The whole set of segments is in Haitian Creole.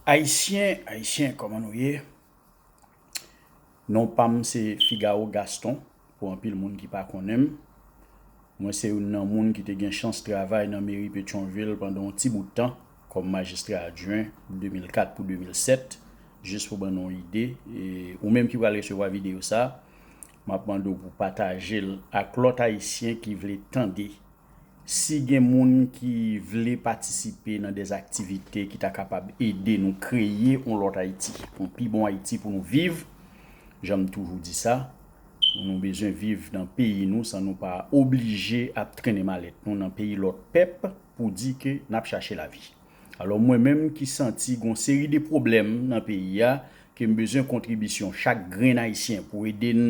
Ayisyen ayisyen kòman nou ye non pam se Figaro Gaston pou anpil moun ki pa konnen m mwen se youn nan moun ki te gen chans travay nan meri Petyonvil pandan yon ti bout tan kòm majistra adjwen 2004 pou 2007 jis pou ban nou yon ide ou menm ki pral resevwa videyo sa map mande w pou w pataje l ak lòt ayisyen ki vle tande Si gen moun ki vle patisipe nan des aktivite ki ta kapab ede nou kreye yon lòt Ayiti, yon pi bon Ayiti pou nou viv, jan m toujou di sa, nou bezwen viv nan peyi nou san nou pa oblije ap trennen malèt nou nan peyi lòt pèp pou di ke n ap chache lavi. Alò mwen menm ki santi gon seri de pwoblèm nan peyi a ke m bezwen kontribisyon chak grenn Ayisyen pou ede n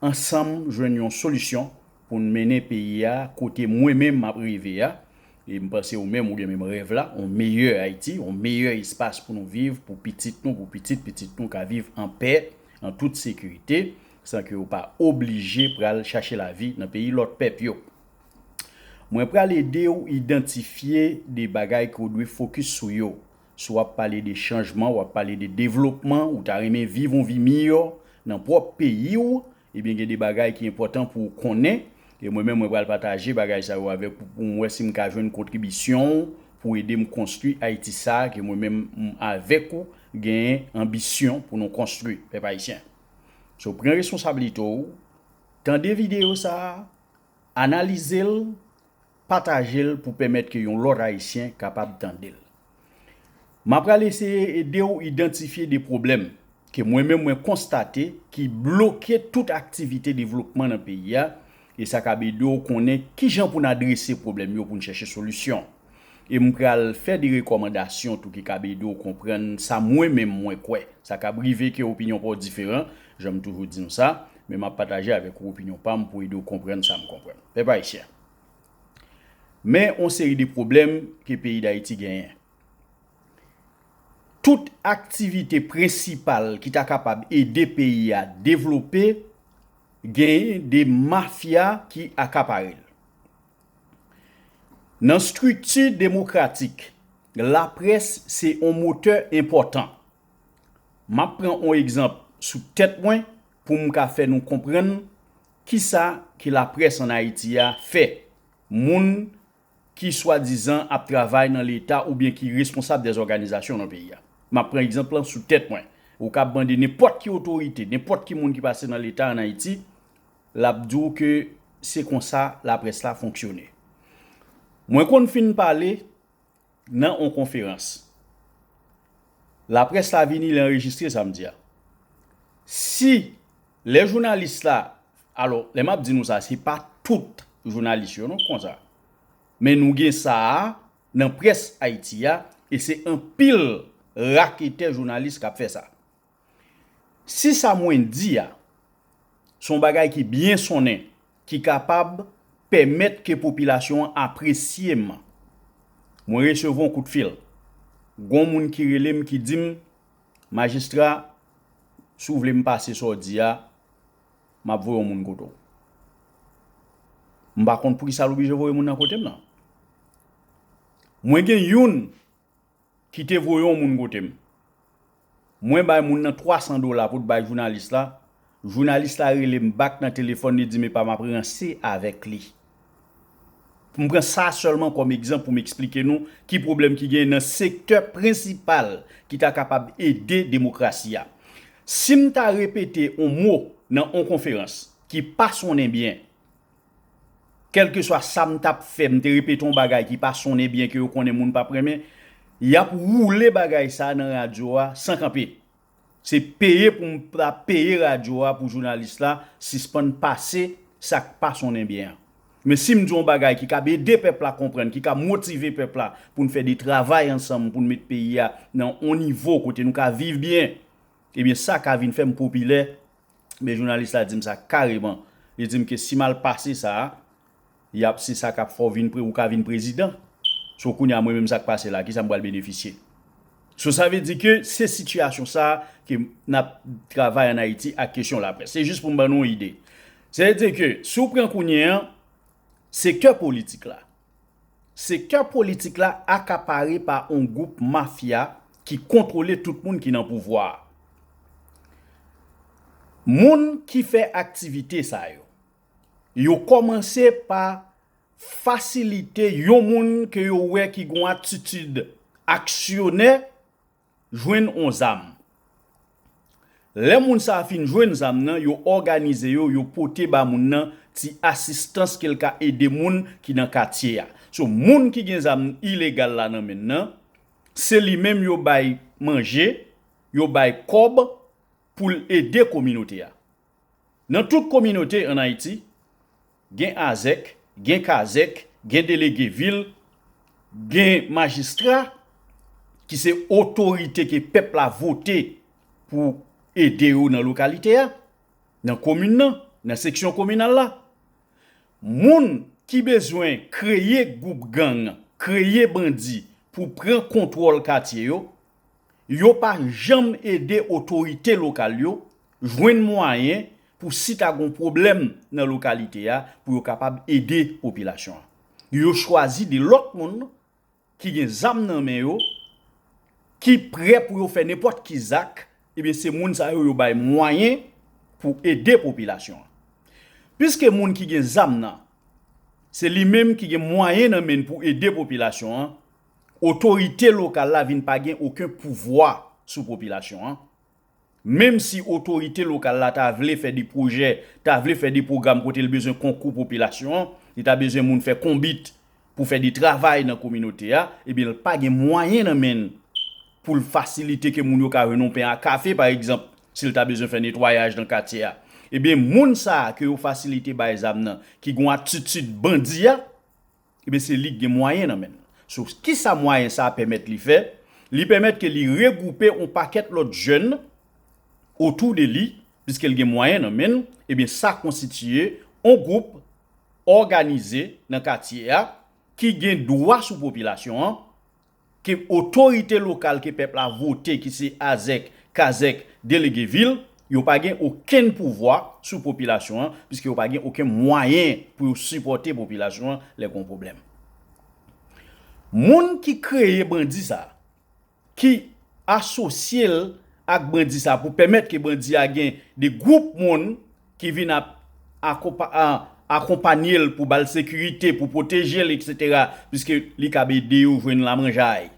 ansanm jwenn yon solisyon pou n mennen peyi a kote mwen menm m ap reve a, e m panse ou menm ou gen menm rèv la, yon meyè Ayiti, yon meyè espas pou nou viv, pou pitit nou, pou pitit pitit nou ka viv an pè, an tout sekirite, san ke yo pa oblije pral chache lavi nan peyi lòt pèp yo. Mwen pral ede ou idantifye de bagay ke ou dwe fokis sou yo, Si w ap pale de chanjman, w ap pale de devlopman, ou ta renmen viv yon vi miyò nan pwòp peyi w, ebyen gen de bagay ki enpòtan pou w konnen. E mwen menm mwen pral pataje bagay sa yo avèk ou pou m wè si m ka jwenn kontribisyon w pou w ede m konstwi Ayiti sa a ke mwen menm m avèk ou genyen anbisyon pou nou konstwi, pèp ayisyen. So pran responsablite w, tande videyo sa a, Analize l, pataje l pou pèmèt ke yon lòt Ayisyen kapab tande l. M a pral eseye ede w idantifye de pwoblèm ke mwen menm mwen konstate ki bloke tout aktivite devlopman nan peyi a e sa kab ede w konnen kijan pou n adrese pwoblèm yo pou n chèche solisyon. E m pral fè de rekòmandasyon tou ki kab ede w konprann sa mwen menm mwen kwè. Sa kab rive ke opinyon pa w diferan, jan m toujou di nou sa, men m ap pataje avèk ou opinyon pa m pou ede w konprann sa m konprann. Pèp Ayisyen, men yon seri de pwoblèm ke peyi Dayiti genyen. Tout aktivite prensipal ki ta kapab ede peyi a devlope, genyen de mafya ki akapare l. Nan strikti demokratik, laprès se on motè enpòtan. M ap pran on egzanp sou tèt mwen pou m ka fè nou konprann ki sa ke laprès an Ayiti a fè moun ki swadizan ap travay nan leta oubyen ki responsab dè òganizasyon nan peyi a. M ap pran egzanp lan sou tèt mwen. Ou kab mande nenpòt ki otorite, nenpòt ki moun ki pase nan leta an Ayiti, Lap di w ke se konsa laprès la fonksyone. Mwen konn fin pale nan on konferans. Laprès la vini li anrejistre sa m di a. Si lè jounalis la, alò lè map di nou sa se pa tout jounalis yo non ki konsa. Men nou gen sa a nan près Ayiti a e se anpil raketè jounalis kap fè sa. Si sa mwen di a, se yon bagay ki byen sonnen, ki kapab pèmèt ke popilasyon an apresye m, mwen resevwa yon koutfil. Gon moun ki rele m ki di m, Majistra, si w vle m pase sa w di a, m ap voye yon moun kote w. M pa konn poukisa l oblije voye moun nan kote m nan. Mwen gen youn. Ki te voye yon moun kote m. Mwen bay moun nan 300 dola pou t bay jounalis la, jounalis la rele m bak nan telefòn li di m epa m ap ranse avèk li. M pran sa sèlman kòm egzanp pou m eksplike nou ki pwoblèm ki genyen nan sektè prensipal ki ta kapab ede demokrasi a. Si m ta repete yon mo nan yon konferans ki pa sonnen byen, Kèlkeswa sa m t ap fè, m te repete yon bagay ki pa sonnen byen ke yo konnen moun p ap renmen, y ap woule bagay sa nan radyo a san kanpe. Se peye pou m ta peye radyo a pou jounalis la sispann pase sa k pa sonnen byen an. Men si m di yon bagay ki kab ede pèp la konprann, ki ka motive pèp la pou n fè de travay ansanm pou n met peyi a nan yon nivo kote nou ka viv byen, ebyen sa ka vin fè m popilè Men jounalis la dim sa kareman li dim ke si mal pase sa yap se sa kap fè w vin ou ka vin prezidan so kounya mwen menm sak pase la kisa m pral benefisye so sa vle di ke se sitiyasyon sa ke nap travay an ayiti ak kesyon laprès se jis pou m ban nou yon ide se vle di ke si w pran kounye an. Sektè politik la Sektè politik la akapare pa on gwoup mafya ki kontwole tout moun ki nan pouvwa a. Moun ki fè aktivite sa yo, yo kòmanse pa fasilite yon moun ke yo wè ki gon atitid aksyonè, Jwenn on zam. Lè moun sa a fin jwenn zam nan, yo òganize yo, yo pote ba moun nan ti asistans ke l ka ede moun ki nan katye a. So, moun ki gen zam ilegal la nan men l nan, se li menm yo bay manje, yo bay kòb pou l ede kominote a. Nan tout kominote an Ayiti, gen azèk, gen kazèk, gen delege vil, gen majistra ki se otorite ke pèp la vote pou ede yo nan lokalite a, nan komin nan, nan seksyon kominal la. Moun ki bezwen kreye gwoup gang, kreye bandi pou pran kontwòl katye yo, Yo pa janm ede otorite lokal yo jwenn mwayen pou si ta gon pwoblèm nan lokalite a pou yo kapab ede popilasyon an. Yo chwazi de lòt moun ki gen zam nan men yo, ki prè pou yo fè nenpòt ki zak, ebyen se moun sa yo yo bay mwayen pou ede popilasyon an. Piske moun ki gen zam nan, se li menm ki gen mwayen nan men pou ede popilasyon an, Otorite lokal la vin pa gen oken pouvwa sou popilasyon an. Menm si otorite lokal la ta vle fè de pwojè, ta vle fè de pwogram kote l bezwen konkou popilasyon an, li ta bezwen moun fè konbit pou fè de travay nan kominote a, ebyen l pa gen mwayen nan men l pou l fasilite ke moun yo ka jwenn yon pen a kafe pa egzanp, si l ta bezwen fè netwayaj nan katye a. Ebyen moun sa a ke yo fasilite bay zam nan, ki gen yon atitid bandi a, Ebyen se li k gen mwayen nan men l. So kisa mwayen sa pèmèt li fè? Li pèmèt ke li regwoupe yon pakèt lòt jèn otou de li, piske l gen mwayen nan men l, ebyen sa konstitiye yon gwoup òganize nan katye a ki gen dwa sou popilasyon an, ke otorite lokal ke pèp la vote ki se Azèk, Kazèk, Delege vil, yo pa gen okenn pouvwa sou popilasyon an, piske yo pa gen oken mwayen pou yo sipòte popilasyon an lè gon pwoblèm. Moun ki kreye bandi sa, ki asosye l ak bandi sa pou pèmèt ke bandi a gen de gwoup moun, ki vin ap akonpanye l pou ba l sekirite, pou pwoteje l eksetera, piske li kab ede yo jwenn lamanjay.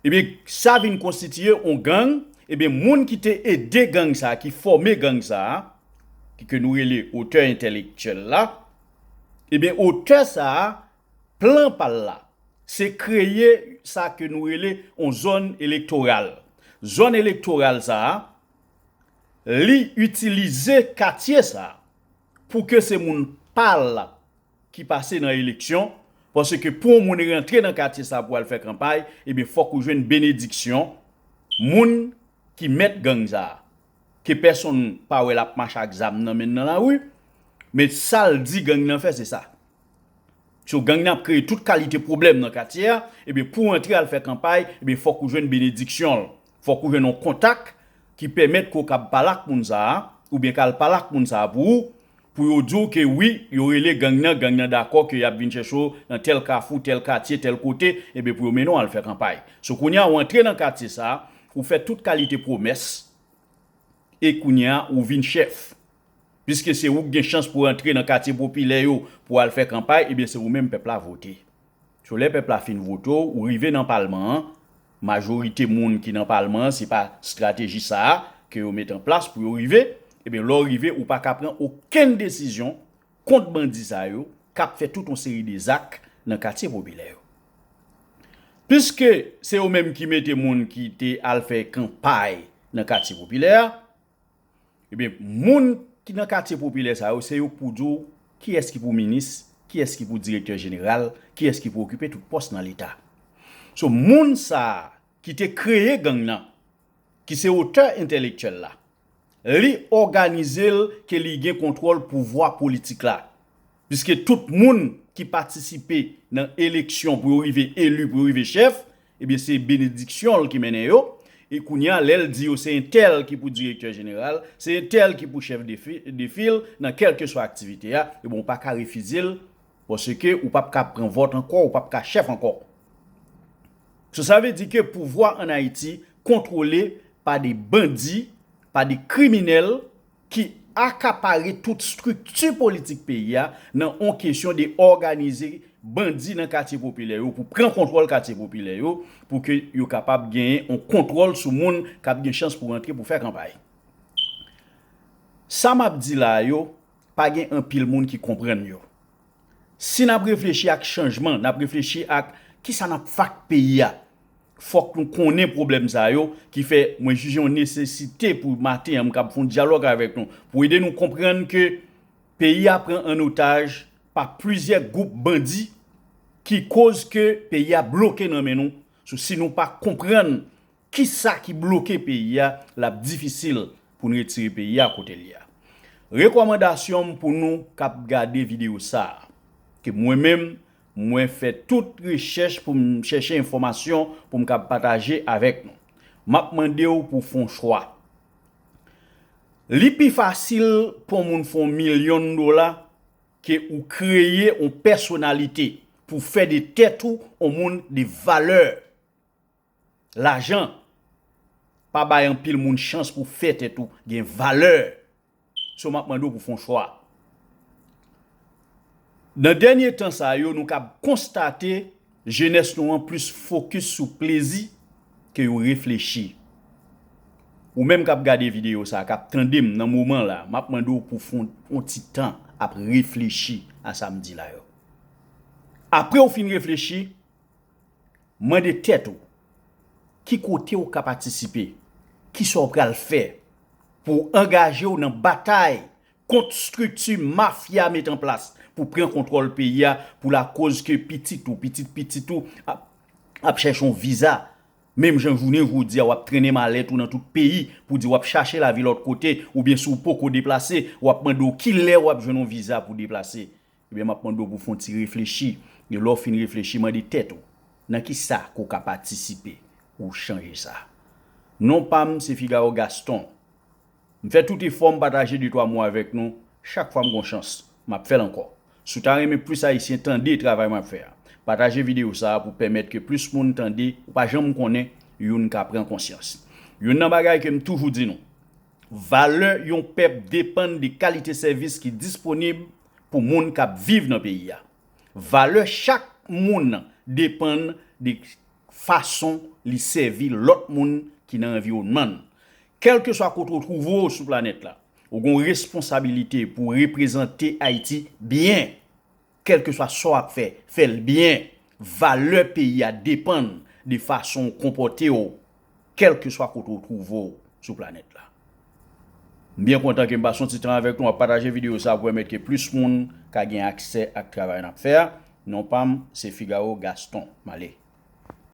Ebyen sa vin konstitiye yon gang, ebyen moun ki te ede gang sa, ki fòme gang sa, ki ke nou rele otè entèlektyèl la, ebyen otè sa plan pa l la, se kreye sa ke nou rele yon zòn elektoral. Zòn elektoral sa. Li itilize katye sa pou ke se moun pa l ki pase nan eleksyon, paske pou yon moun rantre nan katye sa pou al fè kanpay, ebyen fòk ou jwenn benediksyon moun ki mèt gang sa, ke pèsonn pa wè l ap mache ak zam nan men l nan lari, men sa l di gang nan fè se sa. So gang nan ap kreye tout kalite pwoblèm nan katye a, ebyen pou w antre al fè kanpay, ebyen fòk ou jwenn benediksyon l, Fòk ou jwenn yon kontak ki pèmèt ke w kab pale ak moun sa a, oubyen kal pale ak moun sa a pou ou, pou yo di w ke wi, yo rele gang nan, gang nan dakò ke yap vin chèche w nan tèl kafou, tèl katye, tèl kote, ebyen pou yo mennen w al fè kanpay. So kounye a ou antre nan katye sa a, ou fè tout kalite pwomès, e kounye a ou vin chèf. Piske se ou ki gen chans pou antre nan katye popilè yo pou al fè kanpay, ebyen se ou menm pèp la vote. So lè pèp la fin vote w, ou rive nan palman an, majorite moun ki nan palman an se pa strateji sa a ke yo met an plas pou yo rive, ebyen lè w rive ou pa ka pran okenn desizyon kont bandi sa yo k ap fè tout yon seri de zak nan katye popilè yo. Piske se yo menm ki mete moun ki te al fè kanpay nan katye popilè a, Ebyen moun ki nan katye popilè sa yo se yo k pou di w kiyès ki pou minis, kiyès ki pou direktè jeneral, kiyès ki pou okipe tout pòs nan leta. So moun sa a ki te kreye gang nan, ki se otè entèlektyèl la, li òganize l ke li gen kontwòl pouvwa politik la. Piske tout moun ki patisipe nan eleksyon pou yo rive eli, pou yo rive chèf, ebyen se benediksyon l ki mennen yo, e kounye a lè l di yo se entèl ki pou direktè jeneral, se entèl ki pou chèf de fil nan kèlkeswa aktivite a, ebyen ou pa ka refize l paske ou pa p ka pran vòt ankò, ou pa p ka chèf ankò. So sa vle di ke pouvwa an Ayiti kontwole pa de bandi, pa de kriminèl. ki akapare tout strikti politik peyi a nan on kesyon de òganize bandi nan katye popilè yo pou pran kontwòl katye popilè yo pou ke yo kapab genyen on kontwòl sou moun k ap gen chans pou rantre pou fè kanpay. Sa m ap di la yo, pa gen anpil moun ki konprann yo. Si nap reflechi ak chanjman, nap reflechi ak kisa nap fè ak peyi a, fòk nou konnen pwoblèm sa yo ki fè mwen jije yon nesesite pou maten an m kab fè yon dyalòg avèk nou pou ede nou konprann ke peyi a pran an otaj pa plizyè gwoup bandi ki koz ke peyi a bloke nan men nou sou si nou pa konprann Kisa ki bloke peyi a lap difisil poun retire peyi a kotel ye a. Rekòmandasyon m pou nou kap gade video sa ke mwen menm mwen fè tout rechèch poum chèche enfòmasyon poum kab pataje avèk nou. Map mandew pou fon chwa. Li pi fasil pon moun fon milyon dola ke ou kreye on pèsonalite pou fè de tèt ou on moun de valè. Lajan pa bay anpil moun chans pou fè tèt ou gen valè. So map mande w pou fon chwa. Nan dènye tan sa yo nou kab konstate jenès nou an plis fokis sou plezi ke yo reflechi. Ou menm kap gade videyo sa, kap tande m nan moman la, map mande w pou fon on ti tan ap reflechi a sa m di la yo. Apre w fin reflechi. Mande tèt ou, Ki kote ou ka patisipe? Kisa w pral fè pou w angaje w nan batay kont strikti mafya met an plas pou pran kontwòl peyi a pou lakoz ke pitit ou, pitit pitit ou ap chèche yon viza menm jan jounen jodi a w ap trennen malèt ou nan tout peyi pou w di w ap chache lavi lòt kote oubyen si w poko deplase w ap mande w kilè w ap jwenn yon viza pou w deplase Ebyen map mande w pou w fon ti reflechi, e lè w fin reflechi mande tèt ou, nan kisa ke w ka patisipe pou w chanje sa? Non pa m se Figaro Gaston. M fè tout efò m pataje de twa mo avèk nou chak fwa m gon chans. Map fè l ankò. Si w ta renmen plis Ayisyen tande travay map fè a, pataje videyo sa a pou pèmèt ke plis moun tande ou pa janm konnen youn ka pran konsyans. Youn nan bagay ke m toujou di nou, valè yon pèp depann de kalite sèvis ki disponib pou moun k ap viv nan peyi a. Valè chak moun depann de fason li sèvi lòt moun ki nan anviwònman l. Kèlkeswa kote ou twouve w sou planèt la, ou gen yon responsabilite pou w reprezante Ayiti byen. Kèlkeswa sa w ap fè, fè l byen. Valè peyi a depann de fason ou konpòte w Kèlkeswa kote ou twouve w sou planèt la. M byen kontan ke m pase yon ti tan avèk nou ap pataje videyo sa pou pèmèt ke plis moun ka gen aksè ak travay n ap fè a. Non pa m se Figaro Gaston. M ale.